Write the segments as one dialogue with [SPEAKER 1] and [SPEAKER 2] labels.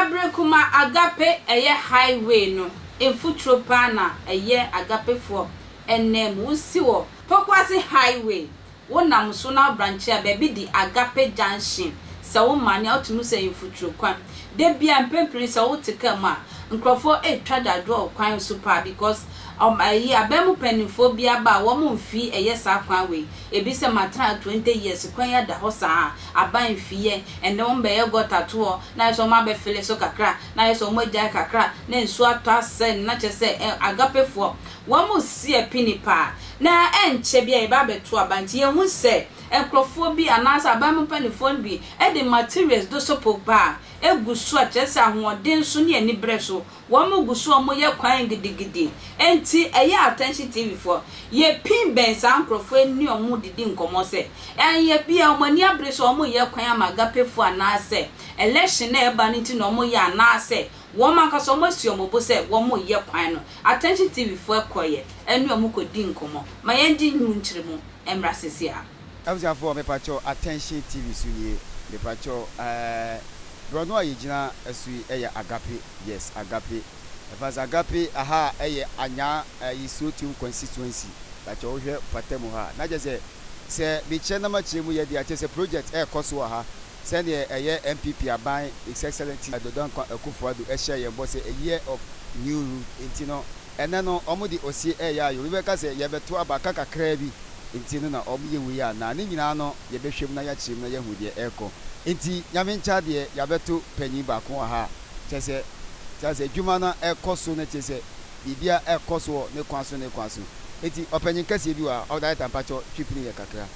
[SPEAKER 1] Abrekuma Agape ɛyɛ highway no mfuturo paa na ɛyɛ Agapefoɔ ɛnanmu. Wosi wɔ Pokuase Highway. Wo nam so na abrankyɛ a baabi de Agape Junction sɛ wo ma nea ɔte mu sɛ mfuturo kwan. Da biara mprempren sɛ wo te car mu a nkurɔfoɔ retwa dadwoɔ wɔ kwan so paa because ɔm ɛyi aban mu panimfoɔ bi aba a wɔn mfii ɛyɛ saa kwan wei. Ebi sɛ matena ha 20 years kwan yi ada hɔ saa a aban mfii yɛ ɛnɛ wɔn bɛyɛ gutter toɔ na ayɛ sɛ wɔn abɛ file so kakra na ayɛ sɛ wɔn agyae kakra na nsuo atɔ asɛe no na kyerɛ sɛ ɛ Agapefoɔ Wɔresie pini paa. Na ɛnkyɛ biara yɛbɛ abɛto aba nti yɛhu sɛ nkorɔfoɔ bi anaasɛ aban mu mpaninfoɔ no bi de materials dosopo ba a egu so a kyerɛ sɛ ahoɔden so ne anibrɛ so wɔgu so a wɔyɛ kwan gidigidi nti ɛyɛ attention TV foɔ yɛ pin bɛn saa nkorɔfoɔ yi ne wɔn didi nkɔmɔ sɛ ɛnyɛ bia wɔn ani abere sɛ wɔyɛ kwan ama agapefoɔ anaasɛ election a ɛba no nti na wɔyɛ anaasɛ Wɔn ankasa wɔn asi wɔn bo sɛ wɔn reyɛ kwan no.
[SPEAKER 2] Attention TV foɔ ɛkɔ yɛ ɛne wɔn kɔ di nkɔmɔ. Ma yɛn gye nnwom nkyere mu ɛmmra sese a. Abusuafoɔ mepakyɛw Attention TV so nie mepakyɛw ɛɛ brɔno a yɛgyina so yi ɛyɛ Agape yes Agape ɛfans Agape aha ɛyɛ Anyaa ɛyi Sotium constituency pakyɛw wohwɛ pata mu ha a na kyɛsɛ sɛ mekyerɛ na makyerɛ mu yɛ deɛ a kyɛsɛ project ɛɛkɔ so wɔ ha Sɛdeɛ ɛyɛ NPP aban His Excellency Dodonkwa Akuffo Addo hyɛɛ yɛn bɔ sɛ a year of new root nti no, ɛnnɛ no wɔn de osie reyɛ ayɛ. Obi bɛka sɛ yɛrebɛto aba aka kakraa bi nti no na wɔn yɛ wei anaa? Ne nyinaa no yɛbɛhwɛ mu na yɛakyerɛ mu na yɛahu deɛ ɛrekɔ. Nti Nyame nkyɛ adeɛ yɛabɛto panyin baako wɔ ha a kyerɛ sɛ kyerɛ asɛ adwuma no ɛrekɔ so na kyerɛ sɛ biribiara ɛrekɔ so wɔ ne kwan so ne kwan so. Nti ɔpanyin kɛseɛ bi wɔ ha, ɔdaeɛta mpakyɛw twi pini yɛ kakra.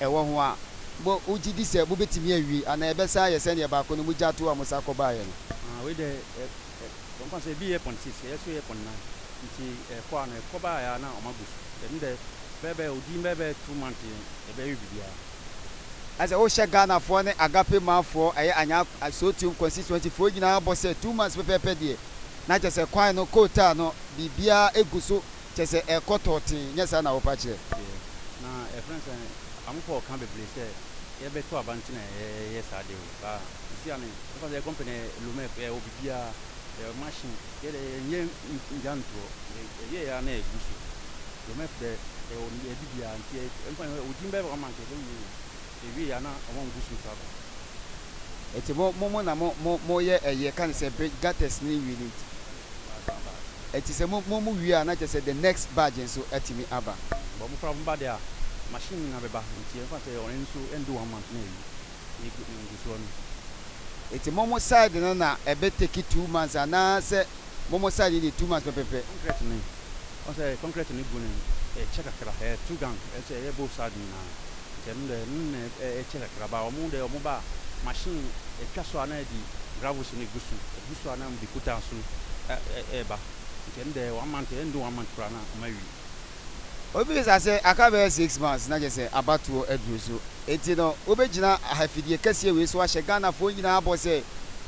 [SPEAKER 2] ɛwɔ ho a, mogye di sɛ mubetumi awie anaa ɛbɛsan ayɛ sɛnea baako no mugyaa tow a mosan kɔbaeɛ no? Ah, wei deɛ, ɛ,
[SPEAKER 3] ɛ, wɔka sɛ ebi yɛ pɔn six, ɛyɛ so yɛ pɔn nnan. Nti ɛkɔ ara no, ɛkɔ baeɛ ara na wɔagu so. Ɛno deɛ, bɛyɛbɛyɛ odin bɛyɛbɛyɛ two months yɛn, yɛbɛyɛ biribiara. Ayɛ sɛ
[SPEAKER 2] wohyɛ Ghanafoɔ ne Agape manfoɔ, ɛyɛ Anyaa, Asootuom constituency foɔ nyinaa bɔ sɛ two months pɛpɛɛpɛ deɛ, na kyerɛ sɛ kwan no, kootaa no, biribiara gu so kyerɛ sɛ ɛkɔ tɔɔtee, nyɛ saa na wɔpa kyerɛ? Deɛ na
[SPEAKER 3] ɛfrɛ no sɛ amopɔ ɔka bebree sɛ yɛbɛto aba nti na yɛyɛ saa deɛ o baa sisi a ne ɛfa sɛ company ɛ lomec ɛ wɔ biribiara ɛ machine yɛ dɛ yɛnyɛ ngya ntoɔ yɛyɛ ya na ɛgu so lomec dɛ yɛwɔ ne biribiara nti ɛ ɛmfa odin bɛɛ wɔ ama nka yɛbɛwie yɛ ewie a na ɔmo ngu so tua ka.
[SPEAKER 2] Eti mo mo mo na mo mo mo yɛ ɛyɛ ka ne sɛ bridge gutters ne wie ne nti. Eti sɛ mo mo mo wie a na kyerɛ sɛ the next badge nso atumi aba. Bɔ mo koraa mo ba
[SPEAKER 3] deɛ a machine no na bɛba nti ɛmfa sɛ ɔno nso ɛndu one month na awie ne gu ne ngu soɔ no. Eti mo
[SPEAKER 2] mo side no na ɛbɛ take two months anaa sɛ mo mo side no deɛ two months pɛpɛpɛ. Concrete no.
[SPEAKER 3] Ɔhu sɛ kɔnkrɛt no gu no ɛkyɛ kakra, ɛyɛ two gang, ɛkyɛ, ɛyɛ both side nyinaa. Nti ɛno deɛ, ɛno na ɛkyɛ kakra. But wɔn deɛ wɔn ba a, machine ɛtwa so a na ɛde gravels no gu so, ɛgu so a na wɔde kutaa so ɛ, ɛ, ɛreba. Nti ɛno deɛ, one month, ɛndu one month koraa na wɔawie.
[SPEAKER 2] Wobisa sɛ, Aka bɛyɛ six months na kyerɛ sɛ abatoɔ aduru so, enti no wobɛgyina afidie kɛseɛ wei so ahyɛ Ghanafoɔ nyinaa bɔ sɛ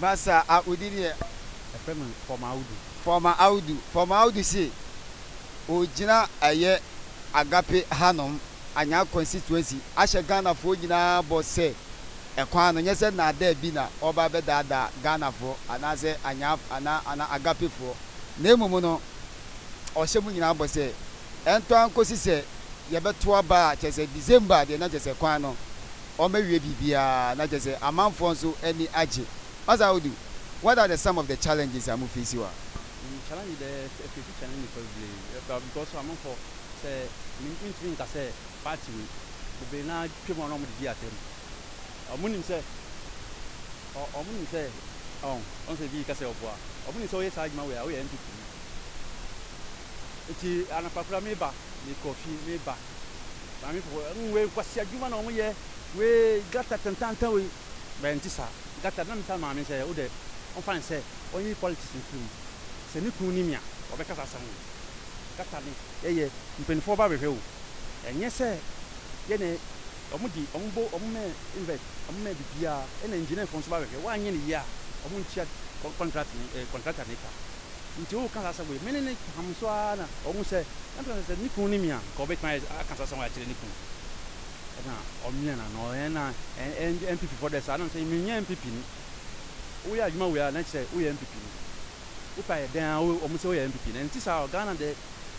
[SPEAKER 2] Masa a odi deɛ. Ɛfrɛ me Fɔma
[SPEAKER 3] Audu. Fɔma
[SPEAKER 2] Audu. Fɔma Audu se ɔgyina ɛyɛ Agape hanom, Anyar constituency, ahyɛ Ghanafoɔ nyinaa bɔ sɛ ɛkwan no nyɛ sɛ nnaadaa bi na ɔreba abɛdaadaa Ghanafoɔ anaasɛ Anyar anaa anaa Agapefoɔ na mmom no ɔhyɛ mo nyinaa bɔ sɛ ɛntɔ ara nkɔsi sɛ yɛbɛto aba a kyerɛ sɛ December deɛ na kyerɛ sɛ kwan no wɔawie biribiara na kyerɛ sɛ amanfoɔ nso ani agye. Pastor Audu, what are the some of the challenges a mo face wɔ ha? Me challenge dɛ
[SPEAKER 3] me face challenge bebree because amanfoɔ sɛ mentumi nka sɛ party wei bebree no ara twa mu a na wɔde di atam. Wɔn nim sɛ wɔn nim sɛ ɔn wɔn sɛ ebi reka sɛ ɔboa wɔn nim sɛ woyɛ saa adwuma wei a woyɛ NPP ni nti anɔpa koraa meba mekɔ fie meba. Maame pɔpɔ mm wei nkwasi adwuma na wɔn yɛ wei gata tantantan wei bɛn nti saa gata na misa maame sɛ wo dɛ ɔnfa ne sɛ ɔnyi politics no firi mu sɛ ne kunu nim a ɔbɛka saa asɛm no gata ne yɛyɛ mpanyinfoɔ ba bɛhwɛ o ɛnyɛ sɛ yɛ ne wɔn di wɔn bo wɔn mɛ invert wɔn mɛ bibiara ɛna engineer foɔ nso ba bɛhwɛ wɔanyɛ ne yie a wɔn ntua contract ne ɛɛ contractor ne ka. Nti ɔɔka saa asɛm wei. Me ne no ham nso ara na ɔhu sɛ ɛmfa sɛ sɛ ne kunu nim a, nka ɔbɛtumi ayɛ aka saa asɛm wei akyerɛ ne kunu. Ɛna ɔmia n'ano. Ɛna NPP foɔ deɛ saa nam sɛ menyɛ NPP ni. Woyɛ adwuma wei a na kyerɛ sɛ woyɛ NPP ni. Wopɛ ayɛ dɛn ara wɔn sɛ woyɛ NPP ni. Ɛnte saa o. Ghana deɛ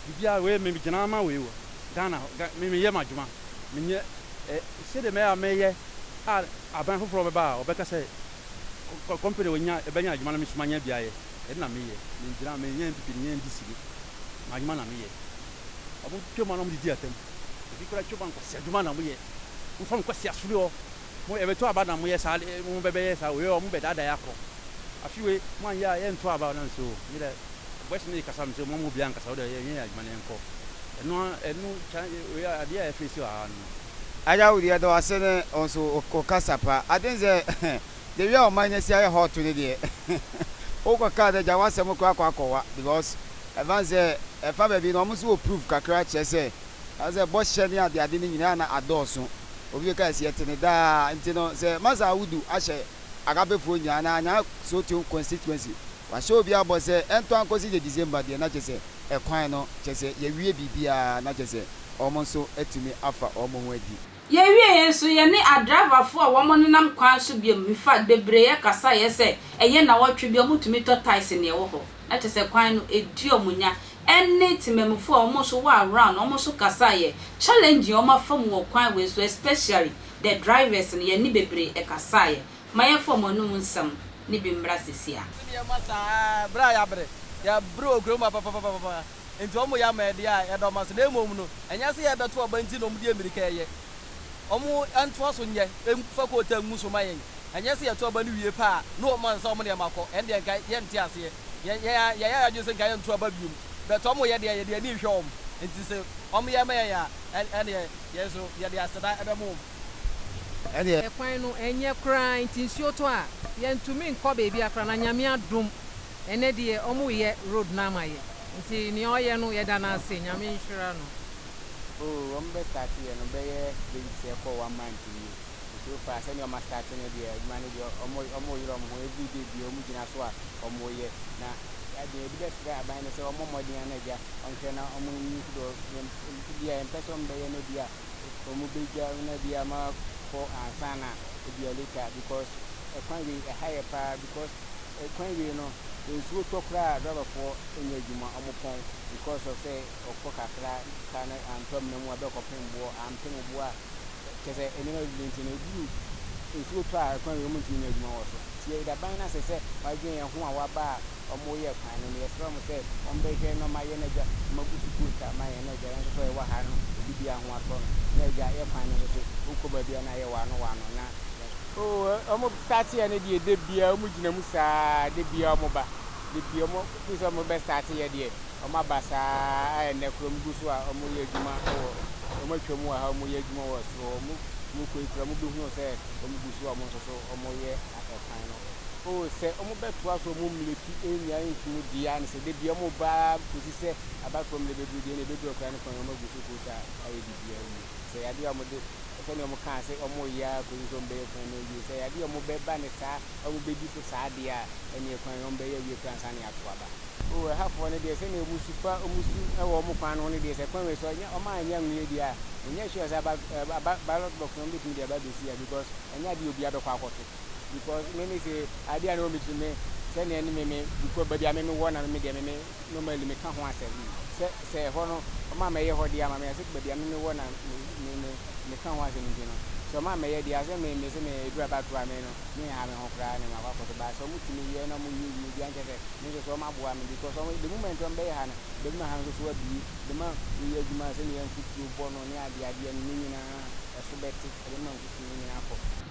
[SPEAKER 3] biribiara wei me gyina ama wei o. Ghana me meyɛ m'adwuma. Menyɛ sɛdeɛ mɛyɛ a mɛyɛ a aban foforɔ bɛba a wɔbɛka sɛ. kɔ company wɔ nya ɛbɛnya adwuma na me nso manya bi ayɛ ɛde na meyɛ mengyina menyɛ npp ne nyɛ ndc ni m'adwuma na meyɛ ɔmo twam a na ɔmo didi atam ebi kora twam a nkwasi adwuma na ɔmo yɛ mo fa nkwasi asore hɔ mo ɛbɛto aba na mo yɛ saa mo bɛbɛyɛ saa wei ɔmo bɛdaadaa akɔ afi wei mo anyɛ a yɛnto aba na nso me dɛ Boys no rekasa no sɛ wɔmma obiara nnkasa, wo deɛ yɛnyɛ yɛn adwuma na yɛnkɔ. Ɛno ara, ɛno kya, wei a, adeɛ a yɛfeesi wɔ ha no no. Agya Wood, yɛda
[SPEAKER 2] wo ase ne wo nso wo wo kasa pa. Ade ne sɛ, the way a ɔman no asi ayɛ hot no deɛ, wokɔ kaa no agya, w'asɛm koraa akɔ akɔwa because ɛfa ne sɛ, ɛfa baabi no wɔn nso wɔ proof kakra kyerɛ sɛ, ɛfa sɛ bɔhyɛ ne ade ade no nyinaa na adɔɔso. Obi bɛka yes, yɛte no daa. Nti no, sɛ Massa Wood ahyɛ Agapefoɔ nyinaa anaa Anyaa Sotion constituency Wahyɛ obiara bɔ sɛ ɛntɔ ankɔsi sɛ December deɛ na kyerɛ sɛ ɛkwan no kyerɛ sɛ yɛawie biribiara na kyerɛ sɛ wɔn nso atumi afa wɔn ho adi. Yɛwieeɛ nso
[SPEAKER 1] yɛne adriverfoɔ a wɔnenam kwan so biom mefa bebree kasaeɛ sɛ ɛyɛ nawɔtwe bi a wɔtumi tɔ taxi na ɛwɔ hɔ na kyerɛ sɛ kwan no ɛdi wɔn nya ɛne temammufoɔ a wɔn nso wɔ around no wɔn nso kasaeɛ challenging wɔn afa mu wɔ kwan wei so especially the drivers no yɛne bebree kasaeɛ Ma yɛmfa wɔn anom nsɛm no bi mmra seesei
[SPEAKER 4] ara. Sɛdeɛ ɛma saa ara, berɛ a yɛabrɛ, yɛabrɛ wɔ kuro mu papapapapapa, enti wɔyɛ ama yɛn deɛ a yɛdɔ ma so. Na mmom no, ɛnyɛ sɛ yɛrebɛto aba nti na wɔde mmirika reyɛ. Wɔntoa so nyɛ, mfa kootan ngu so mma yɛn. Ɛnyɛ sɛ yɛto aba no wie pɛ a, na wɔma nsa wɔn nneɛma kɔ. Ɛnneɛ anka yɛnte aseɛ. Yɛn ara yɛyɛ yɛn adwene sɛ anka yɛnto aba bio. But wɔyɛ deɛ a, yɛde yɛn ani rehwɛ wɔn. Enti sɛ wɔyɛ ma yɛn a, ɛnneɛ yɛn nso yɛde aseda bɛma wɔn.
[SPEAKER 2] ɛdeɛ. Kwan no
[SPEAKER 5] nyɛ koraa nti nsuo tɔ a yɛntumi nkɔ baabiara koraa na Nyame adom ɛnɛ deɛ wɔreyɛ road no ama yɛ nti nea ɔyɛ no yɛda no ase Nyame nhyira no. Oh wɔn
[SPEAKER 6] bɛ start yɛ no bɛyɛ days sɛ ɛkɔ one month nie nti so far sɛdeɛ wɔn a start no deɛ adwuma no deɛ wɔn wɔn yere wɔn ho everyday deɛ wɔn gyina so a wɔn reyɛ na deɛ yɛde bɛ srɛ aban no sɛ wɔn mmɔ mmɔden a na agya wɔn hwɛ na wɔn nyi nso deɛ yɛn mfidie a yɛn pɛ sɛ wɔn bɛyɛ no deɛ a ɔmo bɛgya na bi a makɔ ansa na bi a later because ɛkwan wei ɛha yɛ paa because ɛkwan wei no nsuo tɔ koraa a driver foɔ nyɛ adwuma ɔmo pɔn because of sɛ ɔkɔ kakra car no antɔ amena mu a bɛ kɔpem boɔ ampem boɔ a kyɛ sɛ nneɛma bebree nti no ɛduru nsuo tɔ a ɛkwan wei ɔmo ntumi nyɛ adwuma wɔ so nti yɛdaban no asɛ sɛ wadwen yɛn ho a waba a. wɔyɛɛ kwan no no, yɛsrɛ wɔn sɛ wɔmbɛhwɛ na wɔayɛ na Agya ma agu so coat a ama yɛn na Agya yɛn nso so a yɛwɔ ha no obi biara ho atɔ no na Agya yɛ kwan no no so wokɔ baabi a na ayɛ waano waano na yɛn Oh wɔn starte yɛ no deɛ da biara wɔn gyina mu saa da biara wɔn ba da biara wɔn firi sɛ wɔn bɛ starte yɛ deɛ wɔn aba saa a ɛnnɛ koraa wɔn gu so a wɔn yɛ adwuma wɔ wɔn atwa mu wɔ ha wɔn yɛ adwuma wɔ soro wɔn kɔ yi koraa wɔn bɛhunu sɛ wɔn gu so a wɔn nso so wɔn yɛ kan no. O, sɛ wɔbɛtoa so wɔn mmerɛ pi nnya ntom deɛ a, na sɛ da biara wɔba ara kɔsi sɛ abatoɔ mmerɛ bɛduru deɛ, na ɛbɛduru akwadaa no kɔn na wɔagu so koosi a ayɛ biribiara awie. Sɛ ɛyɛ adeɛ a wɔde, sɛdeɛ wɔkaa sɛ wɔreyɛ ara kɔsi sɛ wɔbɛyɛ kwan no awie, sɛ ɛyɛ adeɛ a wɔbɛba no saa a wɔbɛdi so saa deɛ a, ɛnneɛ kwan no wɔbɛyɛ awie koraa ansa na yɛato aba. O, ɛhafoɔ no deɛ, sɛdeɛ wɔsu fa wɔn su wɔ wɔn kwan no ho no deɛ, sɛ kwan wei so wɔn a wɔnyɛ anwuiɛ deɛ a, mennyɛ sure sɛ aba, aba, ballot box no wɔbɛtumi de aba abɛsi ha because ɛnyɛ adeɛ a obiara bɛkɔ akɔto. because me me se adeɛ a na wɔn kyerɛ me sɛ nea ne me me dukɔ baabi a me me wɔ na me me deɛ me me normally me ka ho asɛm sɛ sɛ ɛhɔ no wɔn a mɛyɛ hɔ deɛ ama me ase baabi a me me wɔ na me me me me ka ho asɛm nti no sɛ wɔn a mɛyɛ deɛ asɛ me me se me edu abatoɔ a me no me ha me ho koraa na me akɔ akɔ so baa sɛ wɔn ti me yɛ na wɔn yɛ wie deɛ nkyɛ sɛ me nso so wɔn aboa me because wɔn the moment wɔn bɛyɛ ha no baabi ma ha nso so abie bɛ ma me yɛ adwuma sɛ ne yɛ nfutuo bɔ no ne adeɛ adeɛ no ne nyinaa ɛso bɛte ɛbɛ ma nfutuo no nyinaa kɔ.